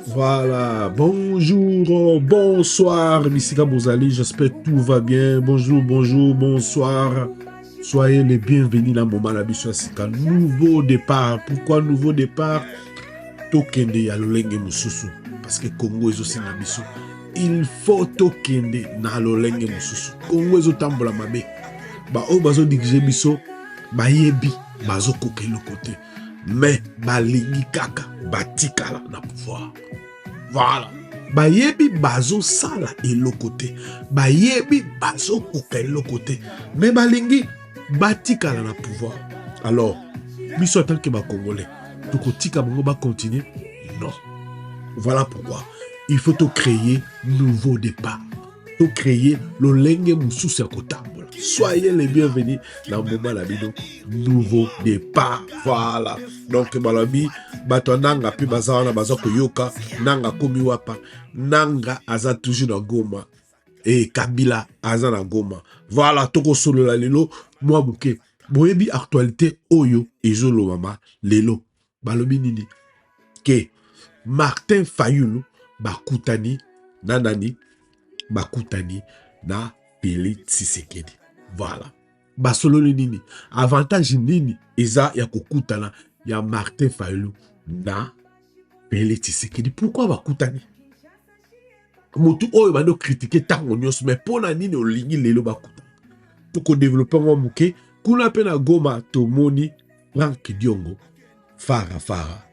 Voilà, bonjour, bonsoir, Bissika Bozali, j'espère tout va bien. Bonjour, bonjour, bonsoir. Soyez les bienvenus dans Moma la Bissika. Nouveau départ. Pourquoi nouveau départ Tokende ya lolenge mususu. Parce que Congo est aussi na biso. Il faut tokende na lolenge mususu. Congo est tambola mabe. Ba oyo bazo diriger biso, bayebi, bazo koka eloko te. mais balingi kaka batikala na pouvoir voilà bayebi bazosala eloko te bayebi bazokoka eloko te mais balingi batikala na pouvoir alors biso atanke bacongolais tokotika bango bacontinue non voilà pourquoi il faut tocreye nouveau départ to créer lolenge mosusu ya kotambola soyez le bienvenu na mbuma na bino nouveau départ voilà donc balobi bato ya nanga mpe baza wana baza koyoka nanga akomi wapa nanga aza toujours na goma e kabila aza na goma voilà tokosolola lelo mwa moke boyebi actualité oyo ezolobama lelo balobi nini ke martin fayulu bakutani na nani bakutani na felix tshisekedi voilà basololi nini avantage nini eza ya kokutana ya martin fayulu na felix tshisekedi pourkui bakutani motu oyo bando kritike ntango nyonso me mpo na nini olingi lelo bakuta tokodevelope yango moke kuna mpe na goma tomoni frank diongo fara fara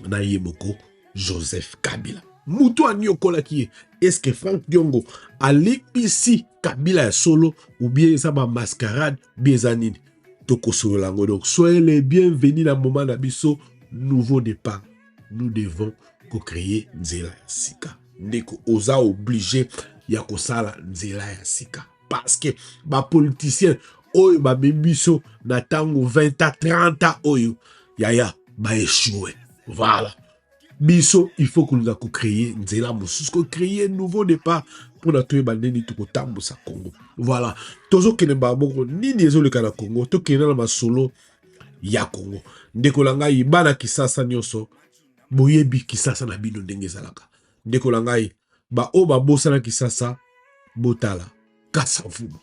na ye moko joseph kabila motu aniokolaki ye eske frank diongo alipisi kabila ya solo ubie eza bamascarade ubie eza nini tokosolola yango donc soyez le bienvenu na moma na biso nouveau départ nous devons ko créer nzela ya sika ndeko oza oblige ya kosala nzela ya sika parce que ba politiciens oyo babe biso na ntango 20 a 30 a oyo yaya baechue voilà biso il faut kolinga kocreye nzela mosusu kocreye nouveau départ mpona toyeba ndeni tokotambusa congo voilà tozokende mbala moko nini ezoleka na congo tokenda na masolo ya Congo. Ndeko na ngai, bana Kisasa nyonso, boyebi Kisasa na bino ndenge ezalaka. Ndeko na ngai, baoyo babosana Kisasa, botala Kasavubu,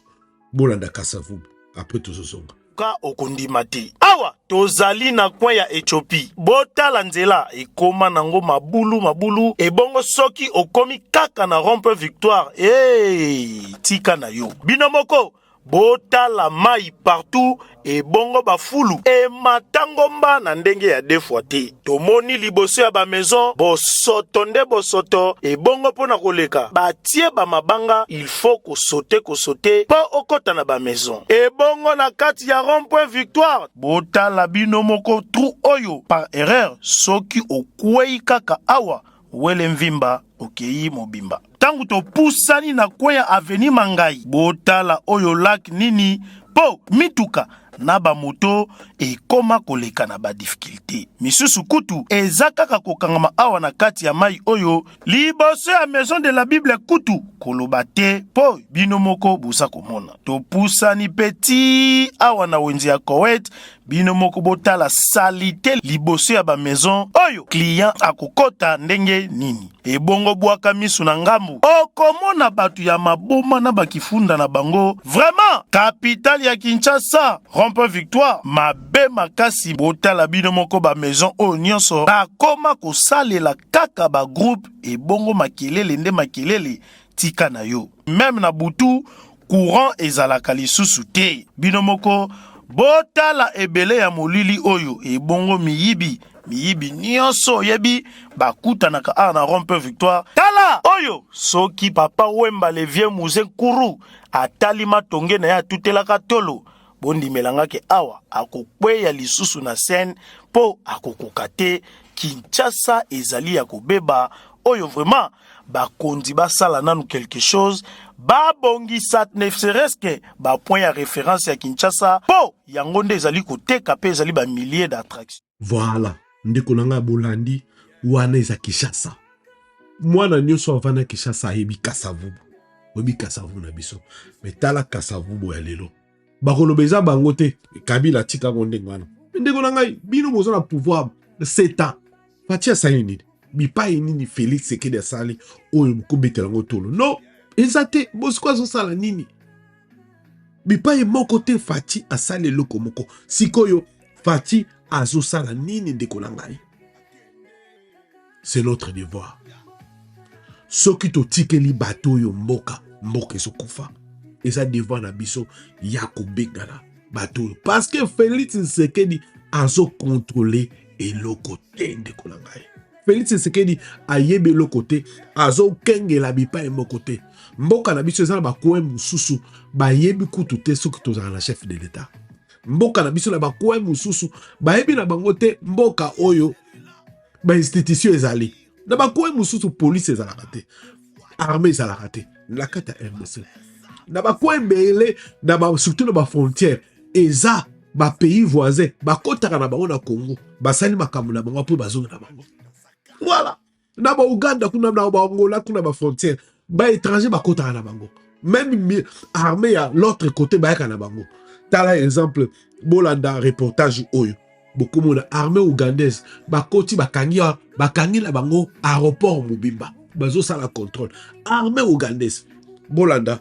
bolanda Kasavubu, apres tozozonga ka okondima te awa tozali na coin ya ethiopie botala nzela ekoma nango mabulu mabulu ebongo soki okomi kaka na rompe victoire hey, tika na yo bino moko Botala mayi partout ebongo ba fulu emata ngomba na ndenge ya deux fois te tomoni liboso ya ba maison bosoto nde bosoto ebongo pona koleka batie ba mabanga il faut kosote kosote po okota na ba maison ebongo na kati ya rond point victoire botala bino moko trou oyo par erreur soki okueyi kaka awa Wele Mvimba okeyi mobimba. Tango topusani na kweya aveni Mangayi, botala oyo lac nini po mituka na ba moto ekoma koleka na ba difficultes. Misusu kutu eza kaka kokangama awa na kati ya mayi oyo liboso ya maison de la bible kutu koloba te po bino moko boza komona. Topusani pe ti awa na wenze ya Koweït bino moko botala salite liboso ya bamaison oyo client akokota ndenge nini ebongo bwaka misu na ngambu okomona bato ya maboma na bakifunda na bango vraiment kapitale ya kinshasa rompe victoire mabe makasi botala bino moko bamaison oyo nyonso bakoma kosalela kaka bagroupe ebongo makelele nde makelele tika na yo meme na butu courant ezalaka lisusu te bino moko botala ebele ya molili oyo ebongo miyibi miyibi nyonso oyebi bakutanaka awa na rond point victoire tala oyo soki papa wemba le vieux muze nkuru atali matonge na ye atutelaka tolo bondimela nga ke awa akokweya lisusu na scène mpo akokoka te kinshasa ezali ya kobeba oyo vraiment bakonzi basala nanu quelque chose babongisa ne serait-ce que bapoint ya référence ya kinshasa mpo yango nde ezali koteka mpe ezali bamillier d'attraction voilà ndeko na ngai bolandi wana eza kinshasa mwana nyonso avanda kinshasa ayebi kasavubu oyebi kasavubu na biso me tala kasavubu ya lelo bakoloba eza bango te kabila atika yango ndenge wana ndeko na ngai bino boza na pouvoir sept ans fati asali nini bipai nini félix sekedi asali oyo bokobetela yango tolo no eza te bosiko azosala nini bipai moko te fati asali eloko moko sikoyo fati azosala nini ndeko na ngai c'est notre devoir soki totikeli bato oyo mboka mboka ezokufa eza devoir na biso ya kobengana bato oyo parce que felix nsekedi azokontrole eloko te ndeko na ngai felix nsekedi ayebi eloko te azokengela bipai moko te mboka na biso eza na bakoin mosusu bayebi kutu te soki tozala na chef de l'etat mboka na biso na bakoin mosusu bayebi na bango te mboka oyo bainstitution ezali na bakoin mosusu polise ezalaka te arme ezalaka te na kati ya rdc na bakoin ebele na ba, surtout na bafrontière eza bapays voisin bakotaka na bango na congo basali makambo na bango mpo bazonga na bango voilà na ba Ouganda kuna na ba Angola kuna ba frontière ba étranger bakotaka na bango meme armée ya l'autre côté bayaka na bango tala exemple bolanda reportage oyo bokomona armée ougandaise bakoti bakangi bakangi na bango aéroport mobimba bazosala contrôle armée ougandaise bolanda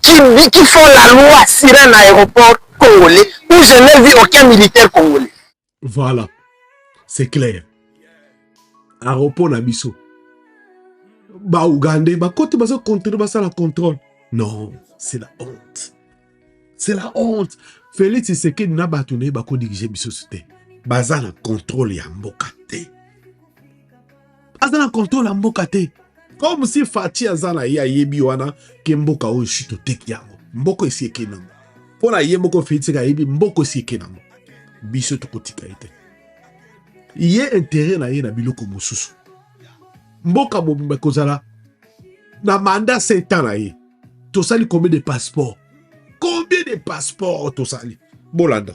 qui, qui font la loi sur un aéroport congolais où je n'ai vu aucun militaire congolais. Voilà, c'est clair. Aéroport na biso. Ba Ougandais, ba kote bazo contrôler basala contrôle. Non, c'est la honte. C'est la honte. Félix Tshisekedi na bato na ye bako diriger biso te. Baza na contrôle ya mboka te. aza na controle ya mboka te comme si faci aza na ye ayebi wana ke mboka oyo si toteki yango mboko esi eke nango mpo na ye moko feliseke ayebi mboko esi eke nango biso tokotika ye te ye intere na ye na biloko mosusu mboka mobimba ekozala na manda setan na ye tosali combien de passeport combien de passeport tosali bolanda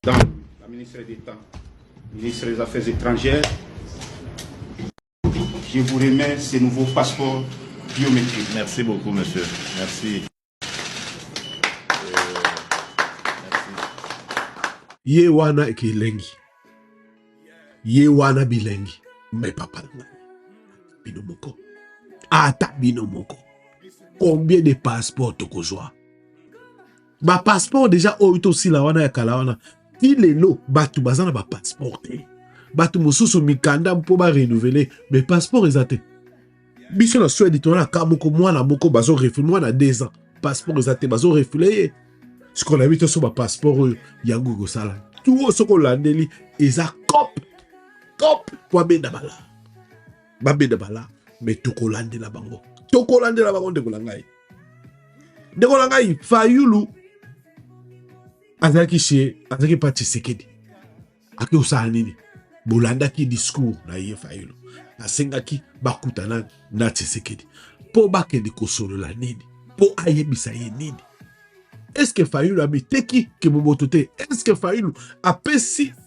Temps, la ministre des temps, ministre des Affaires étrangères, je vous remets ces nouveaux passeports biométriques. Merci beaucoup, monsieur. Merci. ye wana ekilengi ye wana bilengi me papa na ngai bino moko ata bino moko combien de passeport tokozwa ba passeport deja oyo tosila wana ya kala wana ti lelo bato baza na ba passeport te bato mosusu mikanda mpo ba renouveler mais passeport eza te biso na swede tona na ka moko mwana moko bazo refule mwana deux ans passeport eza te bazo refule ye sikoyo nayebi toso ba passeport oyo yango ekosala tu oyo soki olandeli eza cop cop mpo abenda bala babenda bala mais tokolandela bango tokolandela bango ndeko na ngai ndeko na ngai fayulu azalaki se azalaki mpa tshisekedi ake osala nini bolandaki discours na ye fayulu asengaki bakutana na tshisekedi mpo bakende kosolola nini mpo ayebisa ye nini eske fayulu amiteki kiboboto te eske fayulu apesi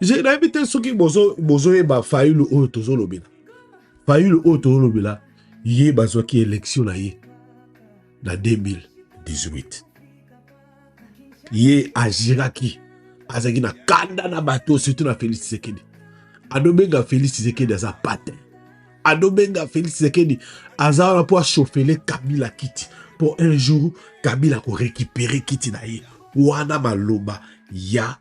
je nayebi te soki bozoyeba fayulu oyo tozolobela fayulu oyo tozolobela ye bazwaki elektio na ye na 2018 ye agiraki azalaki na kanda na bato surtout na félix tshisekedi adobenga félix tshisekedi aza pate adobenga félix tshisekedi aza wana mpo ashofele kabila kiti mpo un jour kabila korekipere kiti na ye wana maloba ya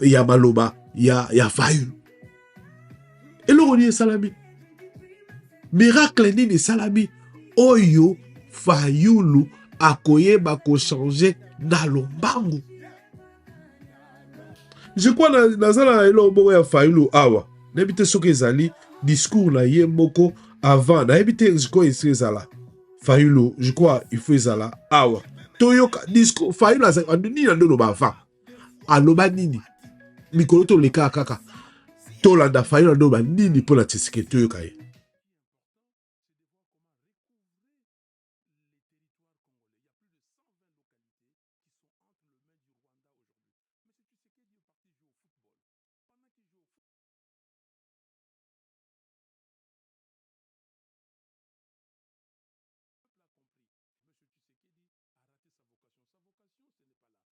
ya maloba ya, ya fayulu eloko nini esalami miracle nini esalami oyo fayulu akoyeba kochange na lombangu je crois naza na eloko moko ya fayulu awa nayebi te soki ezali discours na ye moko avant nayebi te sikoyo esi ezala fayulu je crois il faut ezala awa toyoka discours fayulu azalaka nini na nde oloba avant aloba nini mikolo tolekaa kaka tolanda fayulu aloba nini mpo na tshisekedi toyoka ye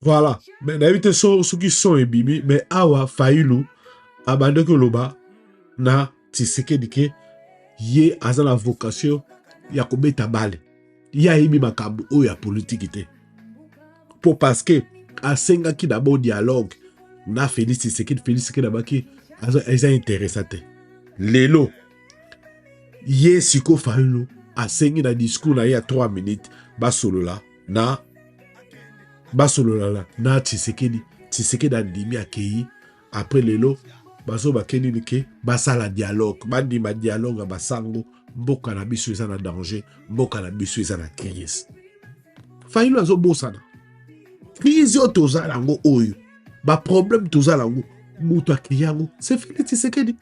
Voilà. Mais nayebi te so soki son ebimi mais awa Fayulu abandaki oloba na Tshisekedi ke ye aza na vocation ya kobeta bale. Ye ayebi makambo oyo ya politiki te. Po parce que asengaki d'abord dialogue na Felix Tshisekedi, Felix Tshisekedi abaki aza interesa te. Lelo ye siko fayulu asengi na discours na ye ya 3 minutes basolola na basololala na tshisekedi tshisekedi andimi akei apres lelo bazo bakeni nike basala dialogue bandima dialogue ya basango mboka na biso eza na danger mboka na biso eza na crise fayulu azobosana crise oyo toza yango oyo baproblème toza yango moto akei yango se felix tshisekedi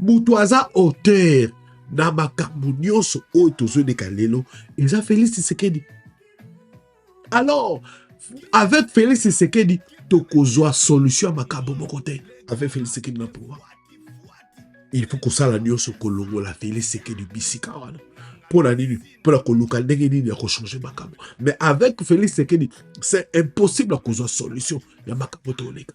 moto aza auteur na makambo nyonso oyo tozoleka lelo eza Felix Tshisekedi alors avec Felix Tshisekedi tokozwa solution ya makambo moko te avec Felix Tshisekedi na pouvoir il faut kosala nyonso kolongola Felix Tshisekedi bisika wana mpo na nini mpo na koluka ndenge nini ya kochange makambo mais avec Felix Tshisekedi c'est impossible ya kozwa solution ya makambo tooleka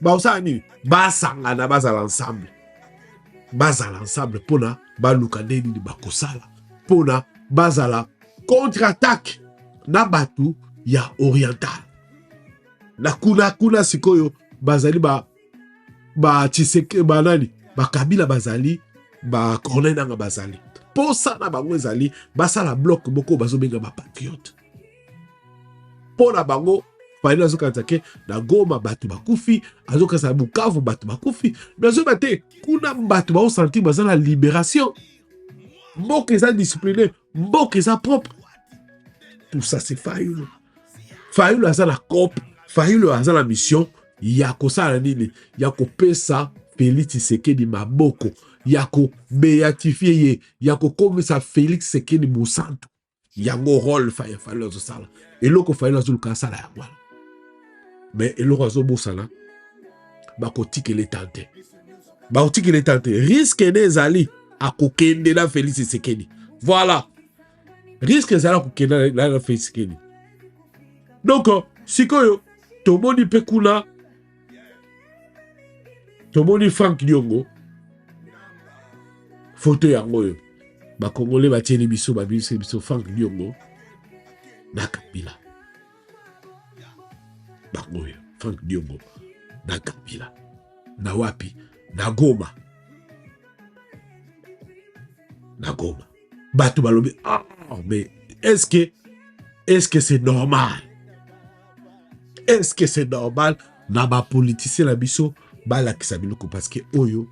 bakosala nini basangana bazala ensemble bazala ensemble mpona baluka nde nini bakosala mpona bazala contre attaque na bato ya oriental na kuna kuna sikoyo bazali ba ba tshiseke banani bakabila bazali ba corneille nanga bazali mposa na bango ezali basala bloc moko bazobenga bapatriote mpo na bango fayulu azokanisa ke na goma bato bakufi azokanisa na bukavu bato bakufi me azoyeba te kuna bato baosantir baza na liberation mboka eza discipline mboka eza propre tout ça c'est fayulu fayulu aza na cope fayulu aza na mission ya kosala nini ya kopesa felix tshisekedi maboko ya kobeatifie ye ya kokomisa felix tshisekedi mosantu yango role faye fayulu azosala eloko fayulu azoluka asala yango wana me eloko azobosana bakotikela etal te bakotikela etal te riske nde ezali akokende na felix esekedi voilà riske ezali akokende na felix esekedi donc sikoyo tomoni mpe kuna tomoni frank diongo foto yango oyo bakongole batieli biso babimisi biso frank diongo na kabila bango oyo frank diongo na kabila na wapi na goma na goma bato balobi ah, mais est ce que est ce que c'est normal est ce que c'est normal na bapolitisien na biso balakisa biloko parce que oyo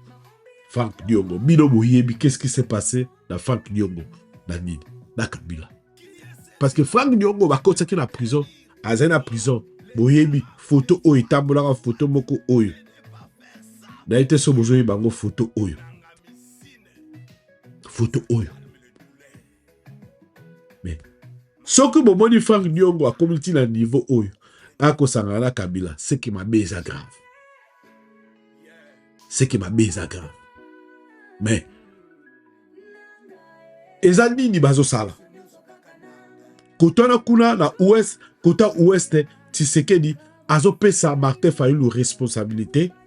frank diongo bino boyebi qu'est ce qui s'est passé na frank diongo na nini na kabila parce que frank diongo bakotisaki na prison azali na prison boyebi foto oyo etambolaka foto moko oyo naye te so bozoyeba yango foto oyo foto oyo mais soki bomoni frank diongo akomi ti na niveau oyo akosangana na kabila seke mabe eza grave seke mabe eza grave mais eza nini bazosala kotwana kuna na ouest kota ouest tshisekedi azopesa martin fayulu responsabilité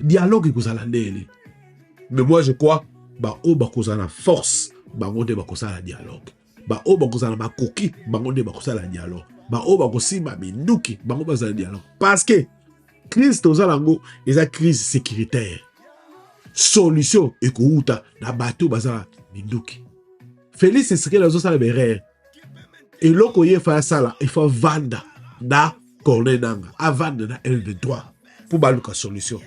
dialogue ekozala ndele mais moi je crois baoyo bakozala na force bango nde bakosala dialogue baoyo bakozala na makoki bango nde bakosala dialogue baoyo bakosimba minduki bango bazala dialogue parce que crise toza nango eza crise sécuritaire solution ekowuta na bato bazala minduki felix esekele azosala berere eloko ye efa asala efa vanda na corne nanga avanda na lv3 mpo baluka solution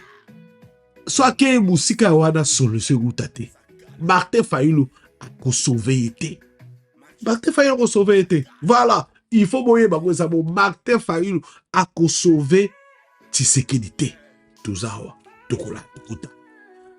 so akei mosika ya wana solution ekuta te martin fayulu akosauve ye te martin fayulu akosauve ye te voilà il faut boyeba ko eza bo martin fayulu akosauve tshisekedi te toza awa tokola tokuta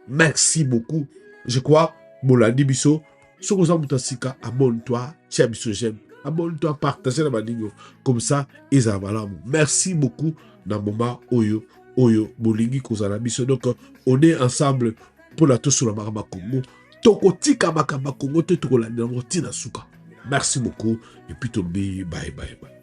merci beaucoup je crois bolandi biso soki oza moto ya sika abonne toi tia biso j'aime abonne toi partage na baningo comme ça ezala malamu merci beaucoup na moment oyo oyo bolingi kozala biso donc on est ensemble mpo na tosola makambo ya kongo tokotika makambo ya kongo te tokolandela yango ntina suka merci beaucoup epuis tobi baye baye baye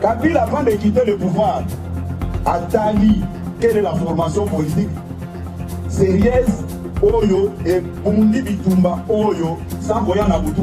Kabila avant de quitter le pouvoir atali quelle est la formation politique sérieuse oyo ebundi bitumba oyo sans koya na butu